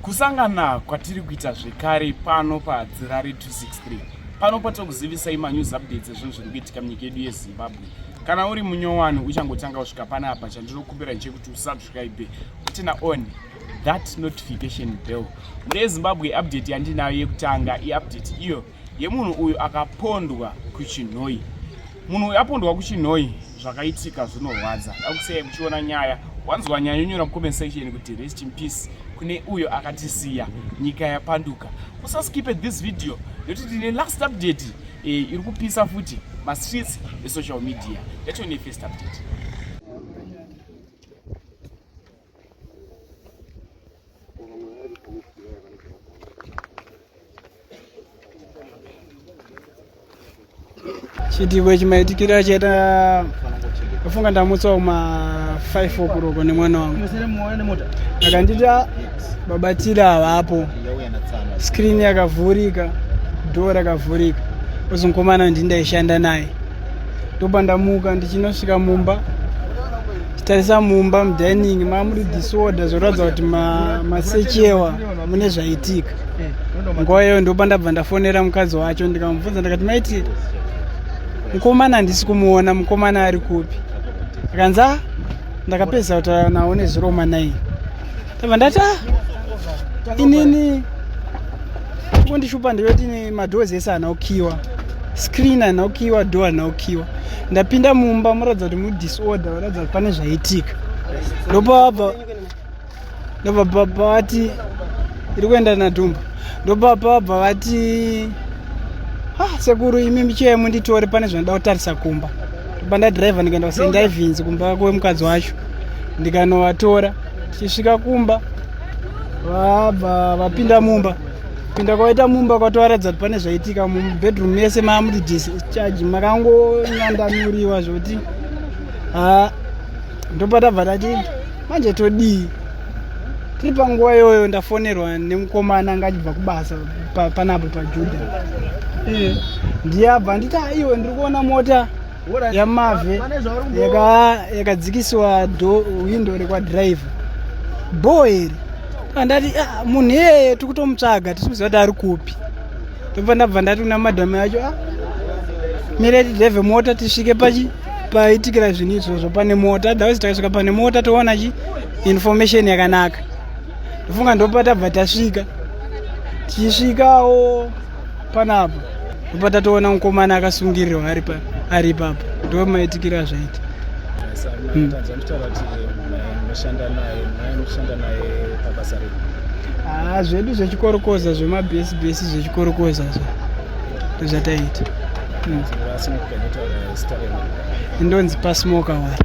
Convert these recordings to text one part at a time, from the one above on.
kusangana kwatiri kuita zvekare pano padzirari 263 pano patokuzivisai manews updates ezvinhu zviri kuitika munyika yedu yezimbabwe kana uri munyowani uchangotanga kusvika pana apa chandinokumbira chekuti usubscribe utina on that notification bell mune zimbabwe update yandinayo yekutanga iupdate iyo yemunhu uyu akapondwa kuchinhoi munhu uyu apondwa kuchinhoi zvakaitika zvinorwadza akusiyai muchiona nyaya wanzwa nyaya yonyora mucomment section kuti rest in peace kune uyo akatisiya nyika yapanduka usaskipe this video nekuti tine last update e, iri kupisa futi mastreets esocial media yachone first update chitiko chimaitikira chaita afunga ndamutsa kuma 5 okuroko nemwana wangu akandita babatira havapo skrini yakavhurika dho rakavhurika ozonkomana ndindaishanda naye ndobva ndamuka ndichinosvika mumba chitarisa mumba mudining mamuri disorder zvoratidza kuti masechewa ma mune zvaitika nguva iyoyo ndobva ndabva ndafonera mukadzi wacho ndikamubvunza ndikati maiti mukomana handisi kumuona mukomana ari kupi akanzi a ah, ndakapedza kutaura nawo neziroma naye Tava ndati ah, inini kundishupa ndivati ne madoors ese ana ukiwa screen ana ukiwa door ana ukiwa ndapinda mumba muratidza kuti mudisorder varatidza kuti pane zvaitika ndopabva ndopabva vati iri kuenda nadhumba ndopabva vabva vati ah, sekuru imi michiya munditore pane zvandida kutarisa kumba ndopandadriver ndikaenda kusendaivhinzi kumba kwemukadzi wacho ndikanovatora tichisvika kumba vabva vapinda mumba pinda kwaita mumba kwatovaratidza kuti pane zvaitika mubedroom mese maamuti discharge makangonyandanuriwa zvokuti ha ndopatabva tati manje todii tiri panguva iyoyo ndafonerwa nemukomana anga achibva kubasa panapo pajuda eh, ndiye abva nditi aiwe ndiri kuona mota yamave yakadzikisiwa hwindo rekwadriver bho iri andati ah, munhu iyeye tiri kutomutsvaga tisi kuziva kuti ari kupi ndobva ndabva ndati kuna madhamu yacho ah, mire tidreve mota tisvike pachi paitikira zvinhu izvozvo pane mota otherwise takasvika pane mota toona chi information yakanaka ndofunga ndopatabva tasvika tichisvikawo panapa obva tatoona mukomana akasungirirwa ari pa ari ipapo ndo maitikiro azvaita Yes, I'm Hmm. not I'm sure that uh, mushanda naye naye mushanda naye pabasa redu. haa zvedu zvechikorokoza zvemabhesibhesi zvechikorokoza zvo ndozvataita Mm. Asi mukupenda taura zita renu. ndonzi pasmoka wari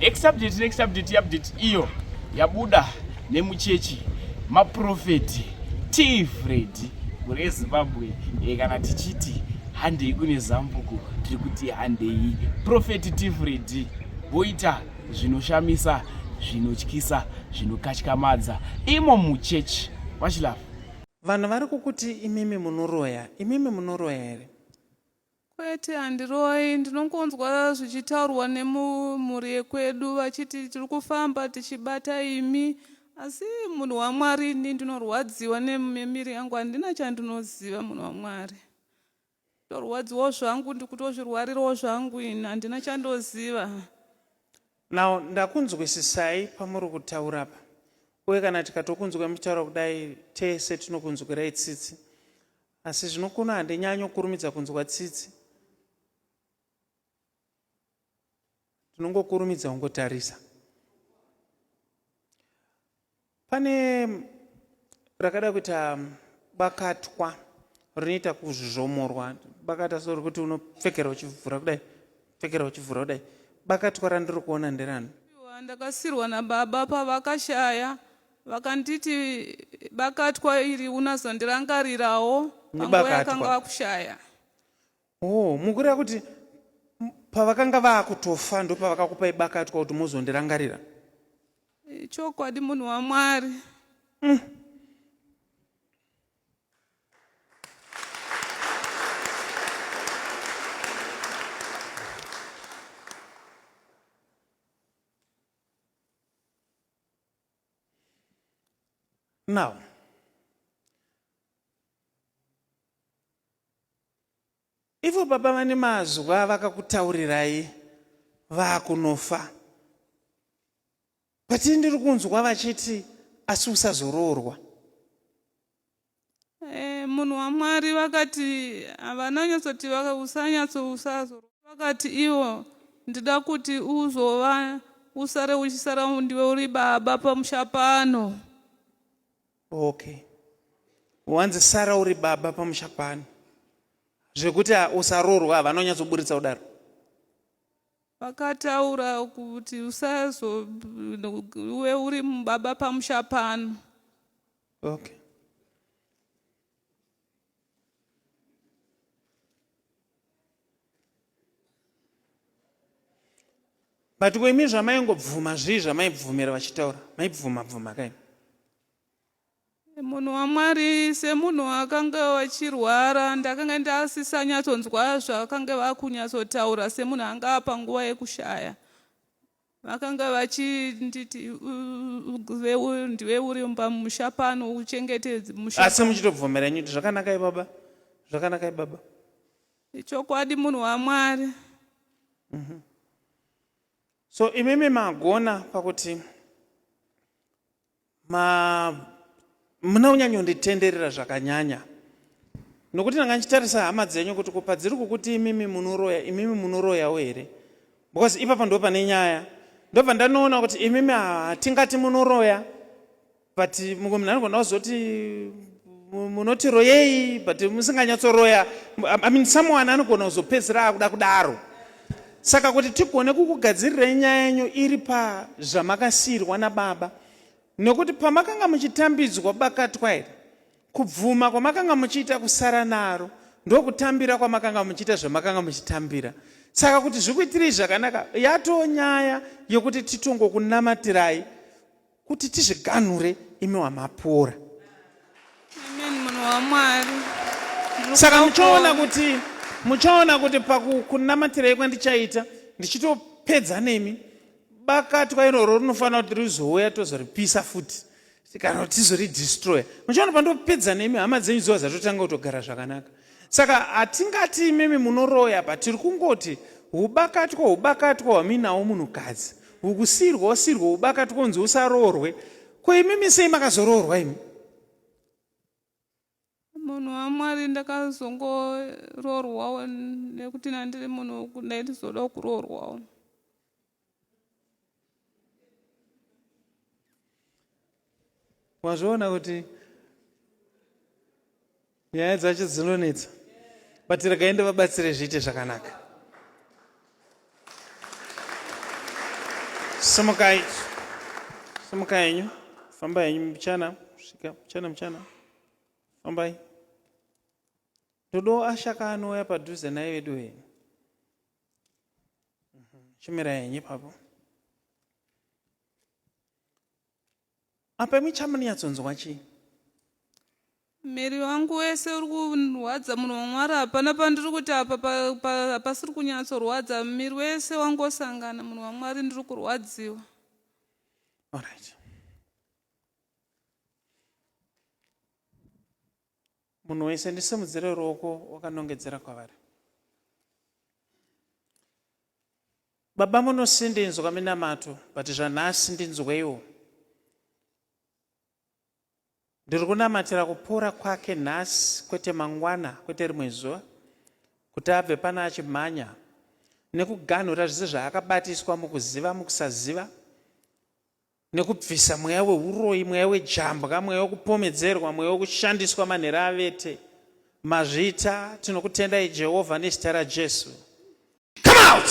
next update next update update iyo yabuda nemuchechi maprofeti t fred kune zimbabwe e, kana tichiti handei kune zambuko tiri kuti handei profeti t fred voita zvinoshamisa zvinotyisa zvinokatyamadza imo muchechi vachilafa Vanhu vari kukuti imimi munoroya, imimi munoroya here? Kwete handiroyi, ndinongonzwa zvichitaurwa nemumhuri yekwedu vachiti tiri kufamba tichibata imi asi munhu waMwari ini ndinorwadziwa nememiri yangu handina chandinoziva munhu waMwari. Torwadziwawo zvangu ndikutozvirwarirawo zvangu ini handina chandoziva. Now ndakunzwisisai pamuri kutaura apa uye kana tikatokunzwai muchitaura kudai tese tinokunzwirai tsitsi asi zvino kuno handinyanyo kurumidza kunzwa tsitsi tinongokurumidza kungotarisa pane rakada kuita bakatwa rinoita kuzvomorwa bakata so rekuti unopfekera uchivhura kudai pfekera uchivhura kudai bakatwa randiri kuona nderano ndakasirwa nababa pavakashaya vakanditi bakatwa iri unazondirangarirawo panguva yakanga vakushaya Oh, mukureva kuti pavakanga vakutofa ndopavakakupai bakatwa kuti muzondirangarira chokwadi munhu wamwari mm. now Ivo baba vane mazwa vakakutaurirai vakunofa but ndiri kunzwa vachiti asi usazoroorwa eh, munhu wamwari vakati havana nyatsoti usanyatso usazoroorwa vakati ivo ndida kuti uzova usare uchisara ndiwe uri baba pamusha pano Okay. Wanzi sara uri baba pamusha pano. Zvekuti ah, usarorwa havana kunyatsoburitsa kudaro. Vakataura kuti usazo uwe uri baba pamusha pano. Okay. but ko imi zvamaingobvuma zvii zvamaibvumira vachitaura maibvuma bvuma kaini munhu wamwari semunhu wakange wachirwara ndakanga ndasisanyatsonzwa zvakange vakunyatsotaura semunhu anga apa nguva yekushaya vakanga vachinditi ndiwe uri pamusha pano uchengete musha asi muchitobvumira inyu kuti zvakanakai baba zvakanakai baba ichokwadi munhu wamwari mm -hmm. so imimi magona pakuti Ma, muna kunyanyonditenderera zvakanyanya nokuti ndanga ndichitarisa hama dzenyu kuti ko padziri kukuti imimi munoroya imimi munoroyawo here because ipapa ndo pane nyaya ndobva ndanoona kuti imimi hatingati munoroya but mumwe munhu anogona kuzoti munoti royei but musinganyatsoroya i mean someone anogona kuzopedzisira akuda kudaro Saka kuti tigone kukugadzirirai nyaya yenyu iri pazvamakasiirwa nababa, nokuti pamakanga muchitambidzwa bakatwa iri, kubvuma kwamakanga muchiita kusara naro ndokutambira kwamakanga muchiita zvamakanga muchitambira. Saka kuti zvikuitirei zvakanaka, yatoo nyaya yokuti titongokunamatirai kuti tizviganhure imi wamapora saka muchaona kuti muchaona kuti pakukunamatirai kwandichaita ndichitopedza nemi bakatwa iroro rinofanira kuti rizouya tozoripisa futi kana kuti tizoridestroya muchaona pandopedza nemi hama dzenyu dzova dzatotanga kutogara zvakanaka Saka hatingati imimi munoroya but tiri kungoti hubakatwa hubakatwa hwamuinawo munhukadzi hukusirwa usirwa hubakatwa unzi usaroorwe ko imimi sei makazoroorwa imi munhu wamwari ndakazongoroorwawo nekuti nandiri munhu ndaitizodawo kuroorwawo wazviona kuti nyaya dzacho dzinonetsa but regai ndivabatsire zviite zvakanaka simukai simuka henyu famba henyu muchana svika muchana muchana fambai ndodo ashaka anouya padhuze naye vedu henyu chimira yenyu ipapo apa imi chamunyatsonzwa chii miri wangu wese uri kurwadza munhu wamwari hapana pandiri kuti apa hapasiri kunyatsorwadza miri wese wangosangana munhu wamwari ndiri kurwadziwa alright Munhu wese ndisimudzire ruoko wakanongedzera kwavari. Baba munosi ndinzwa minamato but zvanhasi ndinzweiwo. Ndiri kunamatira kupora kwake nhasi kwete mangwana kwete rimwe zuva kuti abve pano achimhanya nekuganhura zvese zvaakabatiswa mukuziva mukusaziva nekubvisa mweya weuroyi, mweya wejambwa, mweya wekupomedzerwa, mweya wekushandiswa manhera avete. Mazvita, tinokutendai Jehovha nezita raJesu. Come out!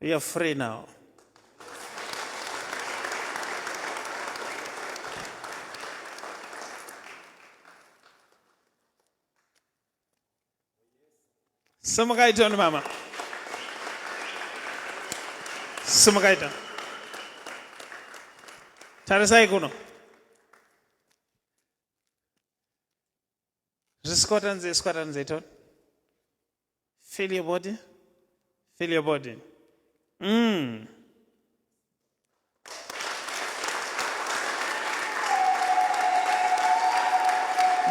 You're free now. Simukaita ni mama. Simukaita. Tarisai kuno. Squatter and say, squatter and say, turn. Feel your body. Feel your body. Mm.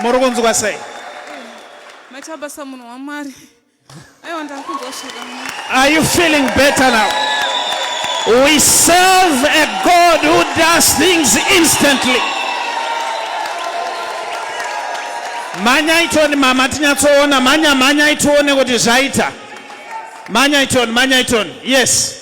muri kunzwa sei matabasa munhu wamwari Are you feeling better now? We serve a God who does things instantly. Manyai tione mama tinyatsoona manya manyai tione kuti zvaita. Manyai tione manyai tione. Yes.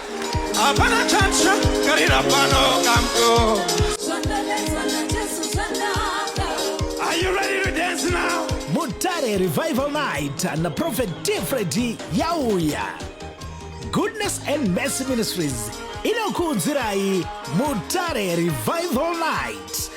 Hapana chatsva karira pano kamko. Mutare Revival Night na Prophet Tifredi yauya. Goodness and Mercy Ministries inokuudzirai Mutare Revival Night